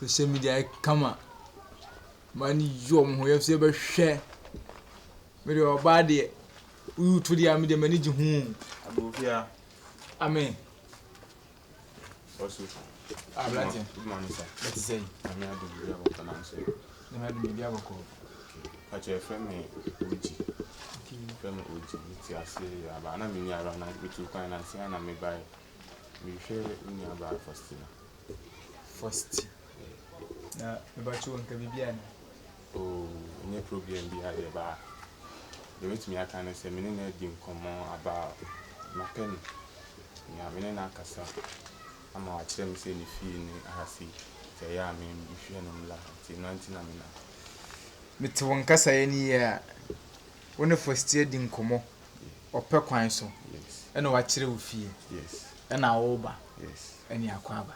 social media yɛ kama maa ne yi wɔn ho yɛ so yɛbɛhwɛ mede ɔbaa deɛ woyi to deɛ a mede m'ani gye ho amen Ɔso. Ah, Blati. Kuma no sa. Ɛte sɛ yi. Nyame adom biribi abɔkɔ nam so. Nyame adom biribi abɔkɔ. Kakyɛ frɛ me Oji. Frɛ me Oji. Mete ase aba na menni ara na metu kwan na nsia na mebae. Mehwɛ wo nua baa Faustina. Fausti. Na mebakyɛ wo nka biribi ana? Oh, ɛnyɛ problem biara deɛ ɛba a, deɛ mɛtumi aka ne sɛ me ne no adi nkɔmmɔ about mapɛ no, nea me ne no akasa ama wakyerɛ me sɛ ne fie ne aha sei, nti ɛyɛ a me mehwɛ no mmra ha, nti ɛno ara nti na me nam. Mete wo nkasaeɛ no yie a, wo ne Fosti adi nkɔmmɔ ɔpɛ kwan so, Yes, ɛna wakyerɛ wo fie, yes, ɛna woreba, yes. ɛne akɔ aba.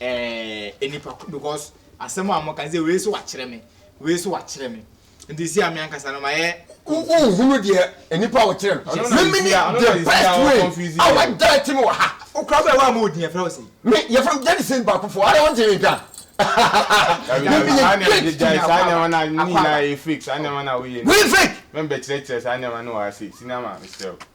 eh, nnipa ko because asɛm a moka sɛ wei so wakyerɛ me wei so wakyerɛ me nti si a me ankasa no mayɛ wohunu deɛ nnipa wo kyerɛ no memene the best way a wada ti me wɔ ha wokora bɛ wa ma ɔdin ɛfrɛ wo sei me yɛfrɛ m gyade sin baako fo ade wonte me ka Wei fake!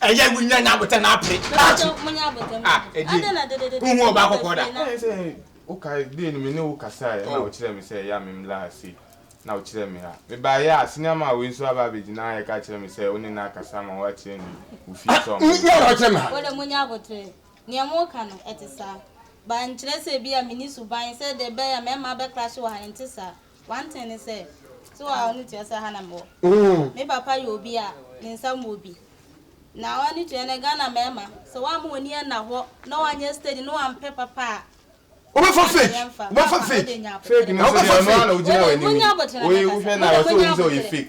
ɛyɛ wi nyɛ nya abotɛ na apere kaakyi a ɛdi nhu ɔba kɔkɔɔ da. ɛyɛ sɛ wokae dee no me ne wo kasae ɛna oh. wokyerɛ me sɛ ɛyɛ a memmla ha sei na wokyerɛ me ha mebaeɛ a senior man wei nso aba abɛgyina ha ɛka kyerɛ me sɛ wo ne no akasa ma woakyerɛ ne wo fie ah, sɛ ɔmo nyɛ na ɔkyerɛ me ha wode mo nya abotrɛ nea moka no ɛte saa bankyerɛ sɛ bi a meni suban sɛ de bɛyɛ mɛma bɛkra hye wɔ ha no nte saa One thing ne sɛ, so wo a w'ani tua sɛ ha na mewɔ? Me papa yɛ obi a ne nsa mu wɔ bi. Na w'ani tua nnɛ Ghana mmarima, sɛ woamma w'ani anna hɔ na woanyɛ steady na woampɛ papa a, wobɛfa fake, wobɛfa fake, wobɛfa fake. Wei deɛ monya aboterɛ no ankasa, wopɛ sɛ wonya aboterɛ.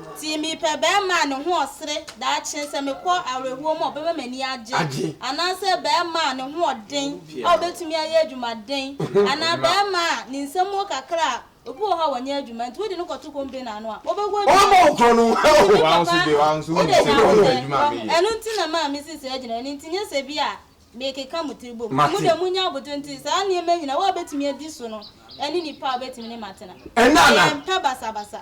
Nti mepɛ barima a ne ho ɔsere daakye sɛ mekɔ awerɛhoɔ mu a ɔbɛma m'ani agye, anaasɛ barima a ne ho ɔden a ɔbɛtumi ayɛ adwumaden, anaa barima a ne nsa mu wɔ kakra a, obi wɔ hɔ a ɔnyɛ adwuma nti wode no kɔto konbire no ano a, ɔbɛgu adwuma mu. Bibi, Papa, wode ka ho dɛ, wahu. Ɛno nti na maa mesi saa gyinaeɛ no, nti nyɛ sɛ bi a mekeka mo tiri bom. Mo deɛ monya aboterɛ nti saa nneɛma nyina wo a wobɛtumi adi so no ne nipa a wobɛtumi ne matena. Ɛyɛ mpɛ basabasa.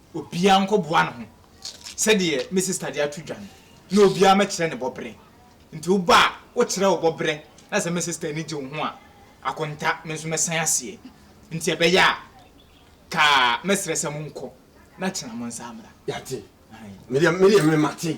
Obiara nkɔboa ne ho sɛdeɛ me sista de ato dwa no, na obiara mmɛkyerɛ ne bɔberɛ. Nti woba a, wokyerɛ wo bɔberɛ, na sɛ me sista ani gye wo ho a, akonta, me nso mɛsan aseɛ. Nti ɛbɛyɛ a, ka mɛsrɛ sɛ monkɔ, na kyena mo nsa mmra. Yɛate. Aane. Me deɛ, me deɛ me mate.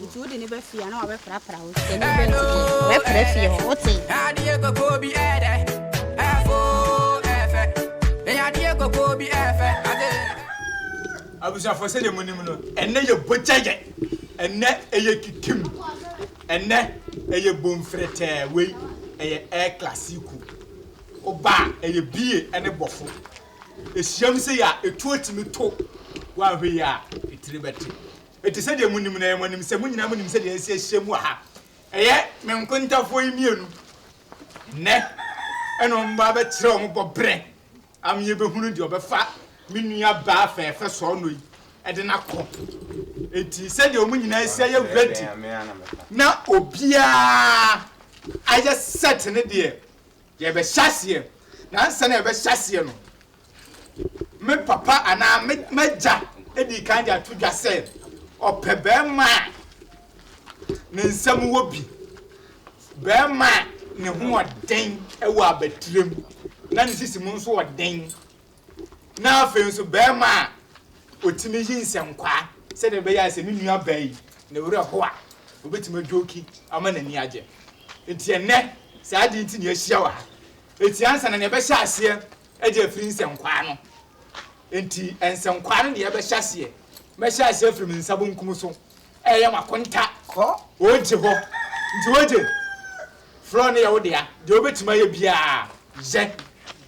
nti wode ne ba fie a na wabɛprapra wo sɛ ne ba nti wobɛpra fie hɔ wote adeɛ kɔkɔɔ bi ɛdɛ ɛfo ɛfɛ ɛyɛ adeɛ kɔkɔɔ bi ɛfɛ ade abusuafoɔ sɛdeɛ monim no ɛnɛ yɛ bogyayɛ ɛnɛ ɛyɛ kikim ɛnɛ ɛyɛ bomfrɛtɛɛ wei ɛyɛ air classico woba a ɛyɛ bie ɛne bɔfo ɛhyiam sɛ yɛ a ɛtuo tumi to woanhwɛ yi a ɛtiri bɛte Enti sɛdeɛ monim no, ɛyɛ mo anim sɛ mo nyinaa monim sɛdeɛ asi ahyia mu wɔ ha. Ɛyɛ me nkontafoɔ yi mmienu nnɛ na wɔba abɛkyerɛ wɔn bɔberɛ ama yɛbɛhunu deɛ ɔbɛfa me nuabaa fɛɛfɛ sɔɔnɔ yi de no akɔ. Enti sɛdeɛ wɔn nyinaa asi ayɛ ready na obiara ayɛ set ne deɛ, yɛbɛhyɛ aseɛ. Na ansa na yɛbɛhyɛ aseɛ no, me papa anaa me m'agya dii kan de ato dwa sɛ ɔpɛ barima a ne nsam wɔ bi, barima a ne ho wɔ den wɔ abatirim na ne sisi mu nso wɔ den, na afei nso barima a ɔtumi yi nsɛnkwaa sɛdeɛ ɛbɛyɛ a sɛ ne nua baa yi ne werɛ ho a ɔbɛtumi adwoki ama n'ani agye. Nti ɛnɛ saa ade nti ne ahyia wɔ ha. Nti ansa na ne ɛbɛhyɛ aseɛ Ɛde afiri nsɛnkwaa no. Enti nsɛnkwaa no deɛ bɛhyɛ aseɛ. Mɛhyɛ aseɛ afiri me nsa bonkum so reyɛ m'akonta wɔ Ogye hɔ. Nti Ogye, frɔɔ no yɛ wo dea. Deɛ wobɛtumi ayɛ biara yɛ,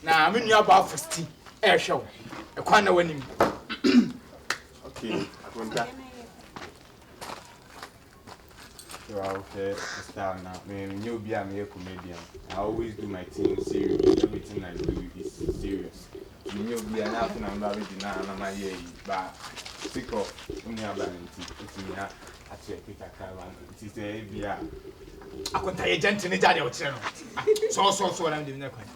na me nua Baa Fosti rehwɛ wo. Ɛkwan na w'anim. Okay, akonta. So ahwɛ style na me nyɛ obi a meyɛ comedian. I always do my thing serious. Everything I do is serious. Me nyɛ obi a na aso na mbra bɛdi na na ma yɛ yi ba sick of ɔnu aba ne nti nti mi a akyɛ ɛpi kakra ba no nti sɛ ebi a akonta yɛ gya nti ne gya deɛ ɔkyerɛ no sɔɔ sɔɔ sɔɔ na mi de mi nya kwan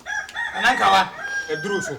anankawa ɛduru so.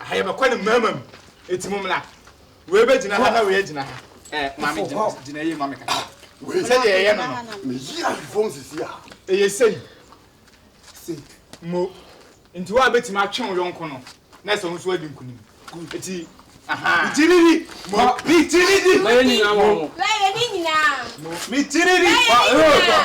Aha yɛbɛkɔ ne mmarima mu, eti mo mmra. Wei bɛgyina ha na wei agyina ha. Ɛ maame gyina gyina yie maame kasa. Wei sɛdeɛ yɛyɛ no no. Meyi ahwefo nsisi a. Ɛyɛ sei. Sei. Mo. Nti wo a bɛtumi atwe wo yɔnko no na ɛsɛ wo nso adi nkunim. Eti aha. Itiriri. Mo. Itiriri. Mo. Mo. Mo. Itiriri. Mo. Mo.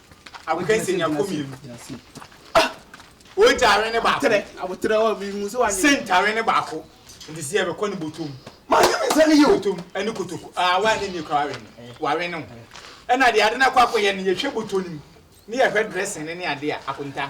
Agokansi nniako mmienu. Ogya awe ne baako. Sent awe ne baako. Nti sɛ yɛbɛkɔ ne botom. Botom ne kotoko. Awa ne nie kora wawe no. Wawe no. Ɛna deɛ ade no akɔ akɔyɛ no yɛhwɛ botom no mu ne yɛhwɛ dressing no ne adeɛ a akonta.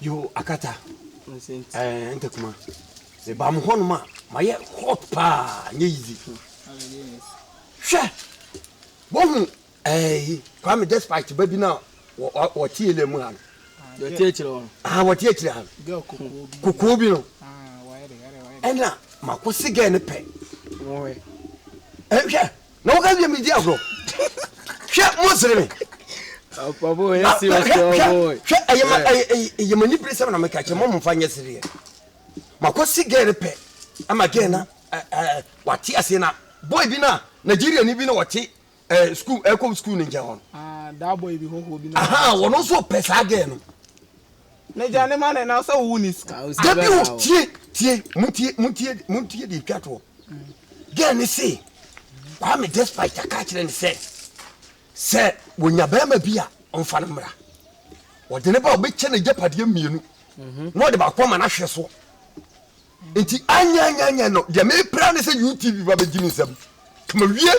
Yo akata eh ntakuma meba mo hɔnom a mayɛ hot paa nyɛ easy hwɛ wohu Ɛɛi Kwame despite ba bi no a wɔte yɛlɛ mu ha no. Wɔte akyire hɔ no. Ah, wɔte akyire ha no. Kokoɔ bi no. Ɛna mako se gɛɛ no pɛ. Wɔhwɛ. Ɛhwɛ, na woka wie medi agorɔ. Hwɛ, mo sere me. Apafo yɛ si ɔsɔ boy. Hwɛ, ɛyɛ ma ɛyɛ ma nibire sɛm na meka kyɛ mo mfa nyɛ sereɛ. Mako se gɛɛ no pɛ. Ama gɛɛ na wɔate ase na boy bi na Nigeria ni bi na wɔte ɛɛ sukuu ɛkɔ sukuu ne nkyɛn hɔ no. aa daa bɔ ebi hɔhoɔ bi na. ahan wɔn nso pɛ saa gɛɛ no. ne gya ne ma ne na sɛ wowu ne sika. dabi o tie tie mo tie mo tie mo tie de twa toɔ gɛɛ ne se kwame despite aka kyerɛ ne sɛ sɛ wɔnya bɛrima bi a ɔnfa no mmra wɔde ne ba ɔbɛkyɛ ne gyapadeɛ mmienu mhm. na ɔde baako ama no ahwɛ soɔ Nti anyɛ anyɛ anyɛ no deɛ mepɛ ara ne sɛ UTV ba bɛgye me nsam. Ka mawie.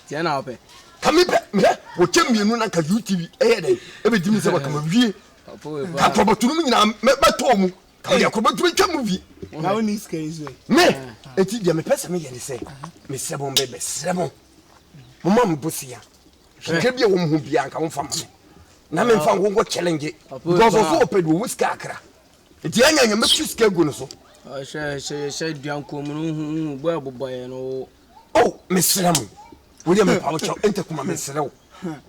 Deɛ na wopɛ. Ka mepɛ hwɛ wɔkyɛ mmienu na nka UTV ɛyɛ dɛn ɛbɛgye me nsam a ka mawie. Ka atorɔbɔto no mu nyinaa mɛtɔ mu. Ka mede akorɔbɔto no atwa movie. Na wonni sika yi so ɛ. Me nti deɛ mepɛ sɛ meyɛ ne sɛ mesrɛ mo me bɛsrɛ mo momma me bosea hwehwɛ bi a wɔn ho biara nka wɔmfa ma me na memfa nkonko challenge because ɔso ɔpɛ deɛ ɔwɔ sika akra Nti ɛnyɛ nyɛ mɛtu sika gu no so. Hyɛ hyɛ yɛhyɛ duankuo mu no hu hu bɔ ɛbobɔ yɛ no. O mesrɛ mo wo deɛ mepa wo kyɛw ɛntɛ kuma mesrɛ wo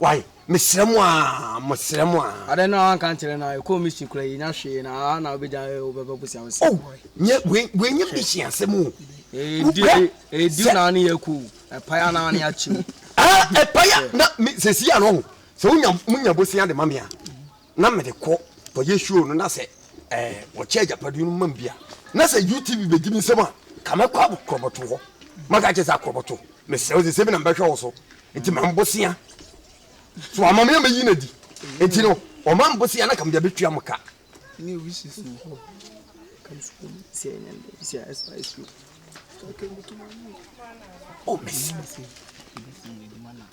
wae mesrɛ mo a mesrɛ mo a. Adɛn na wanka nkyerɛ na ɛkɔɔ mission kura yɛ nya hwee na a na wobɛgya wobɛbɛ busia wosɛ. O nyɛ wei nyɛ mission asɛm o. Ɛdi ɛdi na ne yɛ kɔ o ɛpaya na ne akyi o. Ah ɛpaya na sɛsi yɛ no ho sɛ wonya munya bosia de ma me a. na mede kɔ kɔyɛ show no na sɛ ɛɛ wɔkyɛ agyapadeɛ no mam bi a na sɛ UTV bɛgye me nsam a ka mɛkɔ akorɔbɔto hɔ maka kyɛ sɛ akorɔbɔto mesrɛ wo sɛ sɛ bi na mbɛhwɛ wo so nti ma mbosea so ama me a mɛyi no adi nti no ɔma mbosea na ka mede abɛtua mo ka Oh, Messi.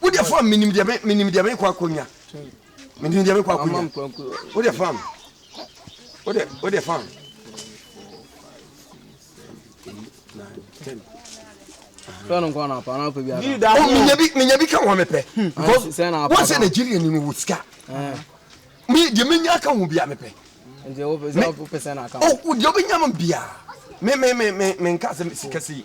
Wo deɛ fam menim deɛ menim deɛ mekɔ akɔnya menim deɛ mekɔ akɔnya wo deɛ fam wo deɛ wo deɛ fam menya bi ka ho mepɛ wosɛ nigeria ni no wɔ sika deɛ menya ka ho bia mepɛ deɛ wobɛnya m bia menka sɛ sikasei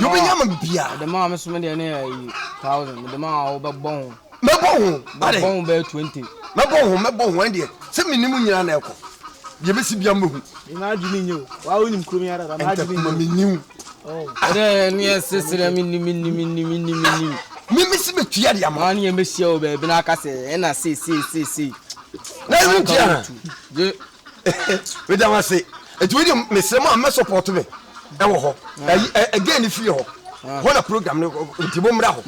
yobɛnya ma bibia mɛbɔ ho mɛbɔ ho mɛbɔ ho ɛndeɛ sɛ menim nyina na ɛkɔ deɛ bɛsi bia mɛhu ntakuma menim memesi bɛtua deɛ ma ne yɛmɛhyia wɔ baabi no aka sɛ ɛna seeseeseesei na ɛhu tia meda wo ase nti wei deɛ mesrɛ mu a mɛ support me ɛwɔ hɔ ɛgɛn ne fie hɔ hɔ na program no nti mo mmra hɔ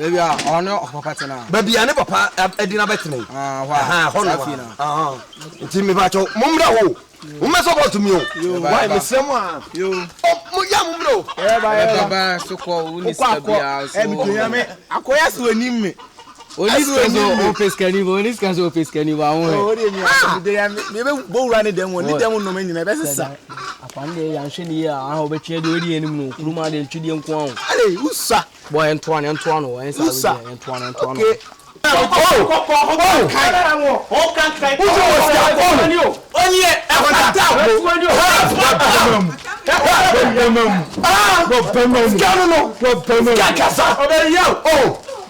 baabi a ne papa ɛde no abɛtena yi hɔ no nti mebakyɛw mo mmra hɔ o mo mɛ support me o wae mesrɛ mu a mo yɛ mo mmra o wokɔ akɔ akɔyɛ so anim me Oni bro so ope skani bo, oni skani so ope skani bo awon he. Oh, odi mi aso de ya me be bo wura ne dem, oni dem no me nyina be sesa. Akwa ne ya nhwe ne ya, aha obe twe de odi enim no, kuruma de ntwe de nko awon. Ale, usa. Bo en toa ne ntoa no, en sa we de en toa ne ntoa no. Okay. Oh!